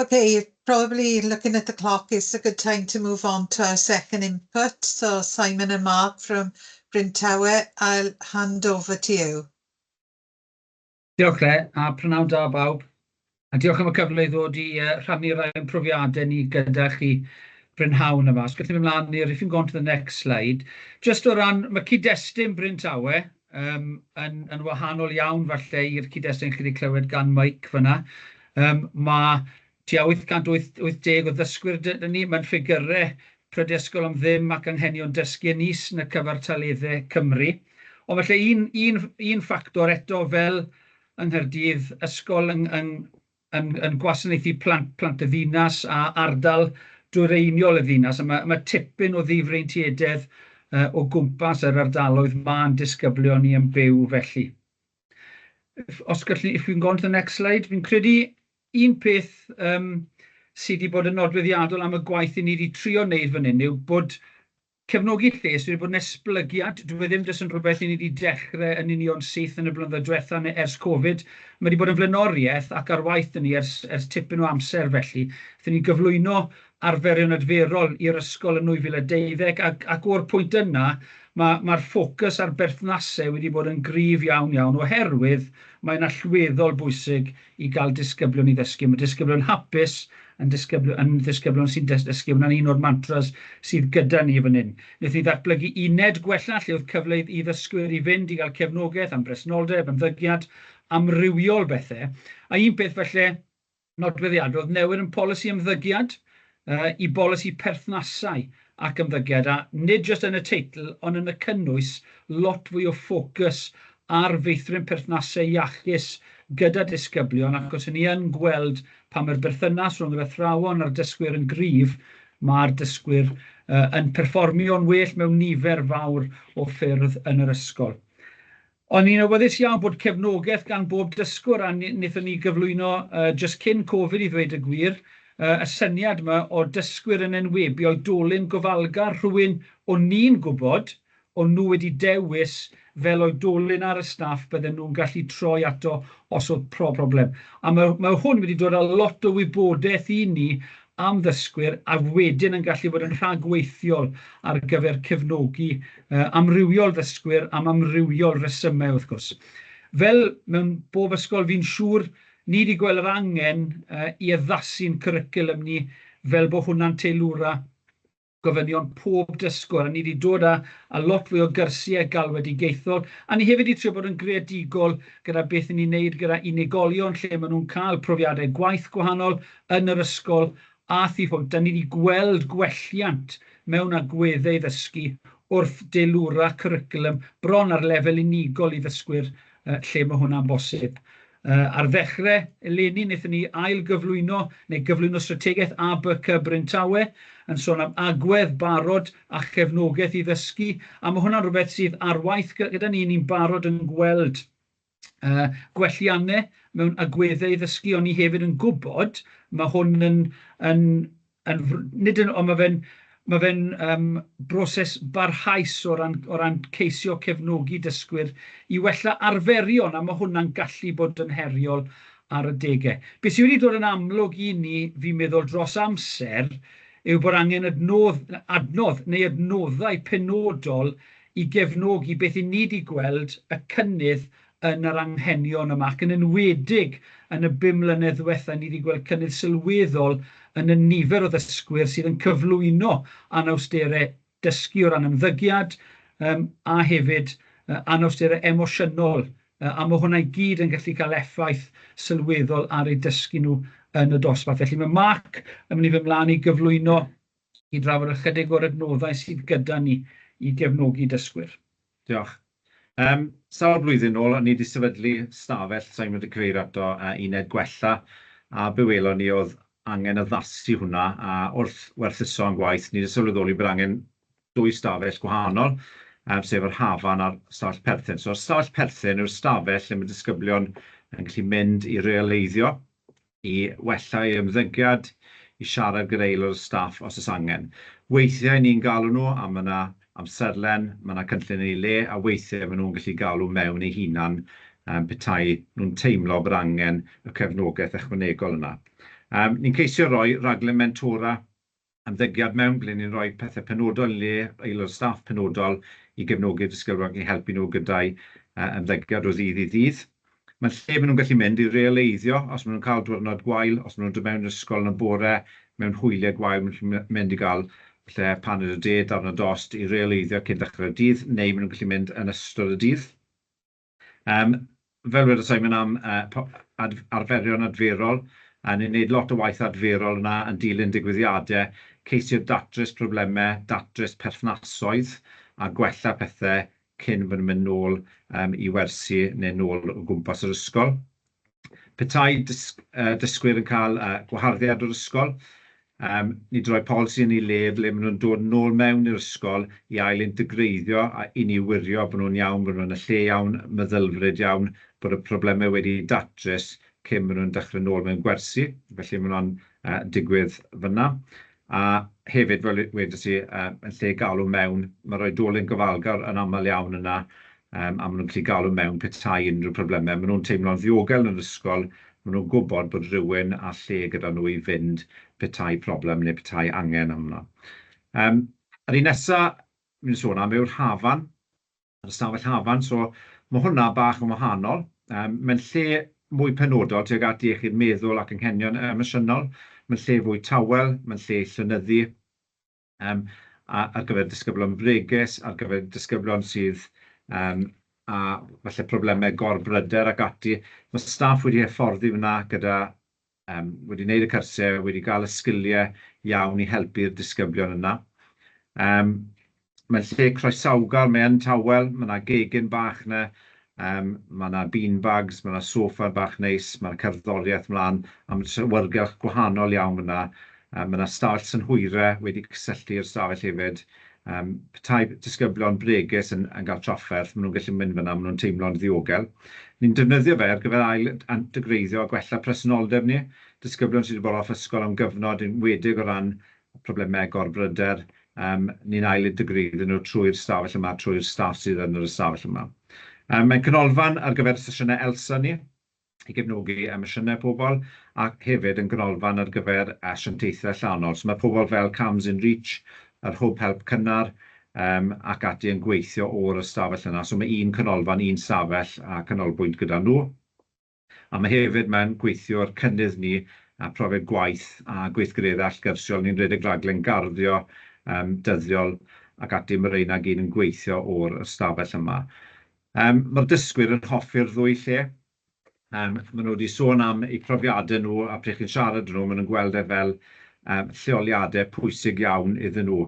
Okay, probably looking at the clock it's a good time to move on to our second input. So Simon and Mark from Bryn Tawe, I'll hand over to you. Diolch Claire, a prynawn da bawb. A diolch am y cyfle i ddod i uh, rhannu rhai profiadau ni gyda chi brynhawn yma. Os gallwn ni ymlaen i'r, if you go on to the next slide, just o ran, mae cyd-destun Bryn Tawe, Yym, yn, yn wahanol iawn falle i'r cyd-destun chi 'di clywed gan Mike fan'na, yym, ma' tua 880 o ddysgwyr 'da ni, ma'n ffigyre Prydysgol am Ddim ac Anghenion Dysgu yn is yn y cyfartaledde Cymru. Ond falle un, un, un ffactor eto fel yng Nghaerdydd, ysgol yng, yng, yn yn gwasanaethu plant plant y ddinas a ardal dwyreiniol y ddinas a mae mae tipyn o ddifreintiededd uh, o gwmpas yr ardaloedd mae'n disgyblion ni yn byw felly. If, os gallu, if we can go on to the next slide, fi'n credu un peth um, sydd wedi bod yn nodweddiadol am y gwaith i ni wedi trio wneud fan hyn yw bod Cefnogi lles wedi bod yn esblygiad, dyw e ddim jyst yn rhywbeth i ni 'di dechre yn union syth yn y blynyddoedd dwetha neu ers Covid, ma' 'di bod yn flaenoriaeth ac ar waith 'da ni ers ers tipyn o amser felly. Aethon ni gyflwyno arferion adferol i'r ysgol yn 2012 ac ac o'r pwynt yna ma' ma'r ffocws ar berthnase wedi bod yn gryf iawn iawn oherwydd mae'n allweddol bwysig i gael disgyblion i ddysgu. Mae disgyblion hapus yn disgybl- yn ddisgyblion sy'n des- dysgu. Hwnna'n un o'r mantras sydd gyda ni fan hyn. Wnaethon ni ddatblygu uned gwella lle oedd cyfle i ddysgwyr i fynd i gael cefnogaeth am bresenoldeb, ymddygiad, amrywiol bethe. A un peth falle nodweddiadol oedd newid yn polisi ymddygiad i bolisi perthnasau ac ymddygiad a, nid jyst yn y teitl, ond yn y cynnwys, lot fwy o ffocws ar feithrin perthnasau iachus gyda disgyblion ac os 'yn ni yn gweld pan mae'r berthynas rhwng yr athrawon a'r dysgwyr yn gryf, mae'r dysgwyr yn perfformio'n well mewn nifer fawr o ffyrdd yn yr ysgol. Ond ni'n awyddus iawn bod cefnogaeth gan bob dysgwr a wnaethon ni gyflwyno jyst cyn Covid i ddweud y gwir, y syniad 'ma o dysgwyr yn enwebu oedolyn gofalgar, rhywun o'n ni'n gwybod o'n nhw wedi dewis fel oedolyn ar y staff bydden nhw'n gallu troi ato os oedd problem. A mae hwn wedi dod â lot o wybodaeth i ni am ddysgwyr a wedyn yn gallu bod yn rhagweithiol ar gyfer cefnogi amrywiol ddysgwyr am amrywiol resymau wrth gwrs. Fel mewn bob ysgol fi'n siŵr ni 'di gweld yr angen i addasu'n cwricwlwm ni fel bod hwnna'n teilwra gofynion pob dysgwr, a ni 'di dod â â lot fwy o gyrsiau galwedigaethol, a ni hefyd 'di trio bod yn greadigol gyda beth 'yn ni'n neud gyda unigolion lle ma' nhw'n cael profiadau gwaith gwahanol yn yr ysgol a thu hwnt, a ni 'di gweld gwelliant mewn agweddau ddysgu wrth deilwra cwricwlwm bron ar lefel unigol i ddysgwyr yy lle ma' hwnna'n bosib. Yy ar ddechre eleni wnaethon ni ail-gyflwyno neu gyflwyno strategaeth ABCY Bryn Tawe yn sôn am agwedd, barod a chefnogaeth i ddysgu, a ma' hwnna'n rwbeth sydd ar waith gy- gyda ni, ni'n barod yn gweld yy gwellianne mewn agweddau i ddysgu, ond ni hefyd yn gwbod ma' hwn yn yn yn fr- nid yn... Ond ma' fe'n ma' fe'n yym broses barhaus o ran o ran ceisio cefnogi dysgwyr i wella arferion, a ma' hwnna'n gallu bod yn heriol ar adegau. Be sy wedi dod yn amlwg i ni, fi'n meddwl, dros amser, yw bod angen adnodd, adnodd neu adnoddau penodol i gefnogi beth 'yn ni 'di gweld y cynnydd yn yr anghenion yma ac yn enwedig yn y bum mlynedd ddiwetha' ni 'di gweld cynnydd sylweddol yn y nifer o ddysgwyr sydd yn cyflwyno anawstere dysgu o ran ymddygiad yym a hefyd yy anawstere emosiynol yy a ma' hwnna i gyd yn gallu cael effaith sylweddol ar eu dysgu nhw yn y dosbarth. Felly ma' Mark yn mynd i fy' mlan i gyflwyno i drafod ychydig o'r adnoddau sydd gyda ni i gefnogi dysgwyr. Diolch. Yym, sawl blwyddyn nôl, o'n i 'di sefydlu stafell, sa i'n mynd i cyfeirio ato, yy uned gwella, a be welon ni o'dd angen addasu hwnna, a wrth werthuso ein gwaith, ni 'di sylweddoli bod angen dwy stafell gwahanol, yym sef yr Hafan a'r stafell perthyn. So, y stafell perthyn yw'r stafell lle ma' disgyblion yn gallu mynd i reoleiddio i wella ei ymddygiad, i siarad gyda aelod o staff os oes angen. Weithiau ni'n galw nhw a mae 'na amserlen, mae 'na cynllun yn ei le, a weithiau maen nhw'n gallu galw mewn eu hunan yym petai nhw'n teimlo bod angen y cefnogaeth ychwanegol yna. Yym ni'n ceisio roi rhaglen mentora ymddygiad mewn ble ni'n rhoi pethe penodol yn le aelod staff penodol i gefnogi'r dysgylwedd ac i helpu nhw gyda'u ymddygiad o ddydd i ddydd. Mae'n lle maen nhw'n gallu mynd i realeiddio os maen nhw'n cael diwrnod gwael, os maen nhw'n dod mewn i'r ysgol yn y bore mewn hwyliau gwael, maen nhw'n gallu mynd i gael falle paned o de, darn o dost i realeiddio cyn dechrau'r dydd, neu maen nhw'n gallu mynd yn ystod y dydd. Yym, fel wedodd Simon am yy po- ad- arferion adferol, a ni'n neud lot o waith adferol yna yn dilyn digwyddiade, ceisio datrys probleme, datrys perthnasoedd, a gwella pethe cyn bo' nw'n mynd nôl yym i wersi ne' nôl o gwmpas yr ysgol. Petai dysgwyr yn cael gwaharddiad o'r ysgol, nid yn rhoi polisi yn ei le ble maen nhw'n dod yn ôl mewn i'r ysgol i ail-integreiddio a i ni wirio bod nhw'n iawn, bod nhw yn y lle iawn, meddylfryd iawn, bod y problemau wedi eu datrys cyn maen nhw'n dechrau nôl mewn gwersi, felly mae hwnna'n digwydd fan'na. A hefyd, fel wedes i, yy yn lle galw mewn, ma'r oedolyn gofalgar yn amal iawn yna, yym a ma' nw'n gallu galw mewn petai unrhyw probleme. Ma' nw'n teimlo'n ddiogel yn yr ysgol, ma' nw'n gwbod bod rywun â lle gyda nhw i fynd petai problem ne' petai angen arno. Yym yr un nesa myn' i sôn am yw'r Hafan. yr ystafell hafan, so ma' hwnna bach yn wahanol. Yym, mae'n lle mwy penodol tuag at iechyd meddwl ac anghenion emosiynol, mae'n lle fwy tawel, mae'n lle i llynyddu, yym, a- ar gyfer disgyblion bregus, ar gyfer disgyblion sydd yym â falle problemau gorbryder ac ati. Ma' staff wedi hyfforddi fan'na gyda Yym, wedi wneud y cyrsiau, wedi cael y sgiliau iawn i helpu'r disgyblion yna. Yym, mae'n lle croesawgar, mae yn tawel, mae yna gegin bach yna, yym, mae yna beanbags, mae yna soffa bach neis, mae yna cerddoriaeth mlaen, a mae trewyirgylch gwahanol iawn fan'na. Yym, mae yna stafell synhwyre wedi cysylltu i'r stafell hefyd. Yym, petai disgyblion bregus yn yn ga'l trafferth, ma' nhw'n gallu mynd fan'na, ma' nhw'n teimlo'n ddiogel. Ni'n defnyddio fe ar gyfer ail d- antegreiddio a gwella presenoldeb ni. Disgyblion sy' 'di bod off ysgol am gyfnod, yn enwedig o ran problemau gorbryder, yym, ni'n ail integreiddio nhw trwy'r stafell yma, trwy'r staff sydd yn yr ystafell yma. Yym, mae'n canolfan ar gyfer y sesiynau ELSA ni. i gefnogi emosiynau pobl, ac hefyd yn ganolfan ar gyfer asiantaethau allanol. So mae pobl fel CAMHS in Reach, yr Hwb Help Cynnar, yym, ac ati yn gweithio o'r ystafell yna. So mae un canolfan, un stafell a canolbwynt gyda nhw. A mae hefyd, mae'n gweithiwr cynnydd ni, a profiad gwaith a gweithgareddau allgyrsiol ni'n rhedeg raglen garddio, yym, dyddiol ac ati. Mae rheina gyd yn gweithio o'r ystafell yma. Yym, ma'r dysgwyr yn hoffi'r ddwy lle. Yym, ma' nw 'di sôn am eu profiade nw, a pryd chi'n siarad â nw, ma' nw'n gweld e fel yym lleoliade pwysig iawn iddyn nw.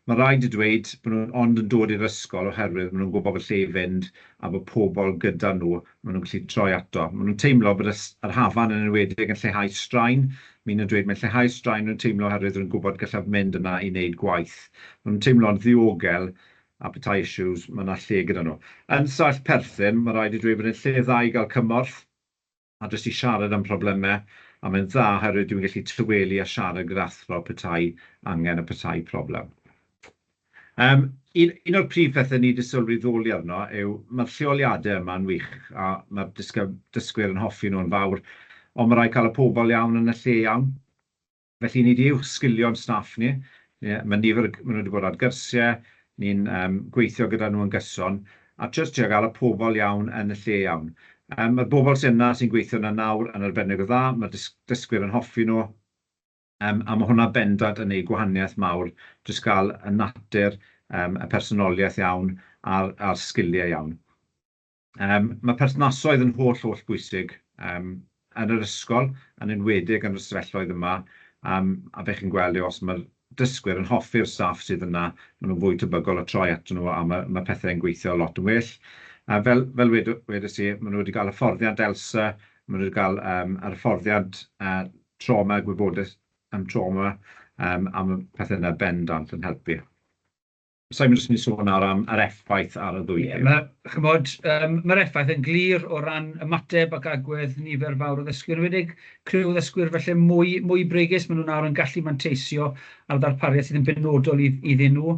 Ma' raid dweud bo' nw'n ond yn dod i'r ysgol oherwydd ma' nw'n gwbo bo' lle i fynd a bo' pobol gyda nw ma' nw'n gallu troi ato. Ma' nw'n teimlo bod y s- yr hafan yn enwedig yn lleihau straen, ma' un yn dweud mae'n lleihau'r straen o'n nw'n teimlo oherwydd rwy'n gwbod gallaf mynd yna i neud gwaith. Ma' nw'n teimlo'n ddiogel a petai issues, mae 'na lle gyda nhw. Yn Saesneg perthyn, mae'n rhaid i dweud bod e'n lle dda i gael cymorth, a jyst i siarad am problemau, a mae'n dda oherwydd dwi'n gallu tawelu a siarad gyda athro petai angen a petai problem. Yym, un, un o'r prif pethau ni 'di sylwi ddoli arno yw, mae'r lleoliadau yma'n wych, a mae'r dysg- dysgwyr yn hoffi nhw'n fawr, ond mae'n rhaid cael y pobl iawn yn y lle iawn. Felly, ni 'di uwchsgilio'n staff ni. Ma' nifer y... ma' nhw 'di bod ar gyrsie, ni'n yym gweithio gyda nhw yn gyson, a jyst trio gael y pobl iawn yn y lle iawn. Yym, ma'r bobl sy' yna, sy'n gweithio yna nawr, yn arbennig o dda, ma'r dys- dysgwyr yn hoffi nhw, yym a ma' hwnna bendant yn neud gwahaniaeth mawr, jyst gael y natur, yym y personoliaeth iawn a'r a'r sgilie iawn. Yym, mae perthnasoedd yn holl, holl bwysig, yym, yn yr ysgol, yn enwedig yn y stafelloedd yma, yym, a be chi'n gweld yw os ma'r dysgwyr yn hoffi'r staff sydd yna, ma' nhw'n fwy tebygol o troi atyn nhw a ma' ma' pethe'n gweithio lot yn well. A fel fel wedo- wedes i, ma' nhw wedi ga'l hyfforddiant ELSA, ma' nhw wedi ga'l yym yr hyfforddiant yy trawma, gwybodaeth am trawma, yym a ma' pethe yna bendant yn helpu. Simon jyst yn mynd i sôn nawr am yr effaith ar y ddwy Ie, ma', ch'mod, yym, ma'r effaith yn glir o ran ymateb ac agwedd nifer fawr o ddysgwyr, yn enwedig criw o ddysgwyr falle mwy mwy bregus, ma' nhw nawr yn gallu manteisio ar ddarpariaeth sydd yn benodol i- iddyn nhw.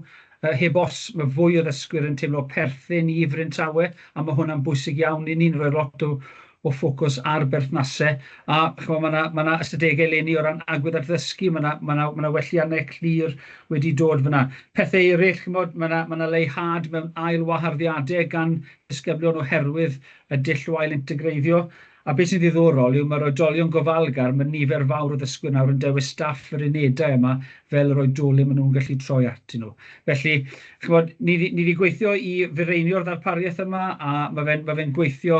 Yy heb os, ma' fwy o ddysgwyr yn teimlo perthyn i Bryn Tawe, a ma' hwnna'n bwysig iawn i ni'n rhoi lot o o ffocws ar berthnasau, a chimod ma' 'na ma' 'na ystadegau eleni o ran agwedd ar ddysgu, ma' 'na ma' 'na ma' 'na welliannau clir wedi dod fan'na. Pethe eryll, chimod, ma' 'na ma' 'na leihâd mewn ail waharddiadau gan ddisgyblion oherwydd y dull o ail-integreiddio, a be sy'n ddiddorol yw ma'r oedolion gofalgar, ma' nifer fawr o ddysgwyr nawr yn dewis staff yr unedau yma fel yr oedolyn ma' nhw'n gallu troi atyn nhw. Felly, chimod, ni ni 'di gweithio i fireinio'r ddarpariaeth yma, a ma' fe'n ma' fe'n gweithio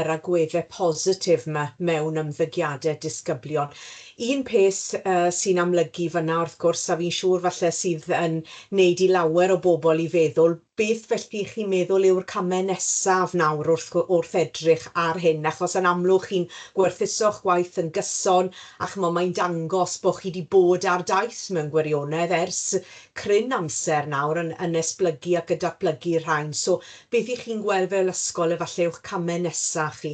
yr agwedde positif yma mewn ymddygiade disgyblion. Un peth sy'n amlygu fanna wrth gwrs, a fi'n siŵr falle sydd yn neud i lawer o bobl i feddwl, beth felly chi'n meddwl yw'r came nesaf nawr wrth wrth edrych ar hyn, achos yn amlwg chi'n gwerthuso'ch gwaith yn gyson, a ch'mo' mae'n dangos bo' chi 'di bod ar daith mewn gwirionedd ers cryn amser nawr yn yn esblygu ac yn datblygu rhain, so Beth y'ch chi'n gweld fel ysgol efalle yw'ch camau nesaf chi?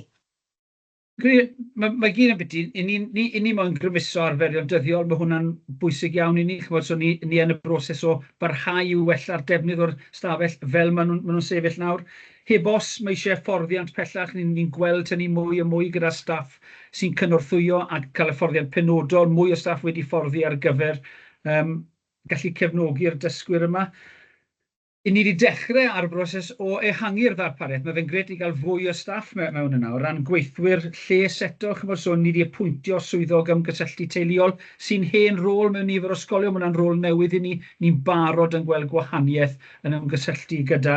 Credu mae gyd ambiti, i ni, ni, i ni moyn grymuso arferion dyddiol, mae hwnna'n bwysig iawn i ni, chimod, so ni, ni yn y broses o barhau i wella'r defnydd o'r stafell fel maen nhw'n, maen nhw'n sefyll nawr. Heb os, mae eisiau hyfforddiant pellach, ni'n, ni'n gweld hynny mwy a mwy gyda staff sy'n cynorthwyo a cael hyfforddiant penodol, mwy o staff wedi hyfforddi ar gyfer yym gallu cefnogi'r dysgwyr yma. I ni 'di dechrau ar y broses o ehangu'r ddarpariaeth. Mae fe'n grêt i gael fwy o staff me- mewn yna. O ran gweithwyr lles eto, chimod, so ni 'di apwyntio swyddog ymgysylltu teuluol sy'n hen rôl mewn nifer o ysgolion. Mae hwnna'n rôl newydd i ni. Ni'n barod yn gweld gwahaniaeth yn ymgysylltu gyda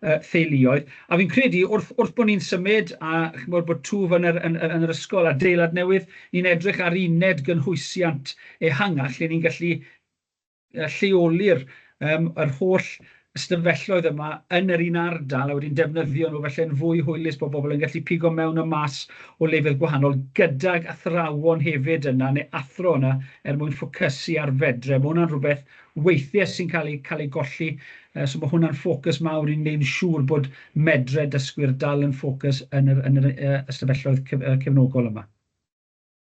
yy theuluoedd. A fi'n credu wrth wrth bod ni'n symud a chimod bod twf yn yr yn yn yn yr ysgol adeilad newydd, ni'n edrych ar uned gynhwysiant ehangach lle ni'n gallu lleoli'r yym yr holl ystafelloedd yma yn yr un ardal a wedyn defnyddio nhw felly'n fwy hwylus bod bobl yn gallu pigo mewn a mas o lefydd gwahanol gydag athrawon hefyd yna neu athro yna er mwyn ffocysu ar fedre. Mae hwnna'n rhywbeth weithiau sy'n cael ei cael ei golli uh, so mae hwnna'n ffocws mawr i'n gwneud yn siŵr bod medre dysgwyr dal yn ffocws yn yr, yn yr uh, ystafelloedd cef, uh, cefnogol yma.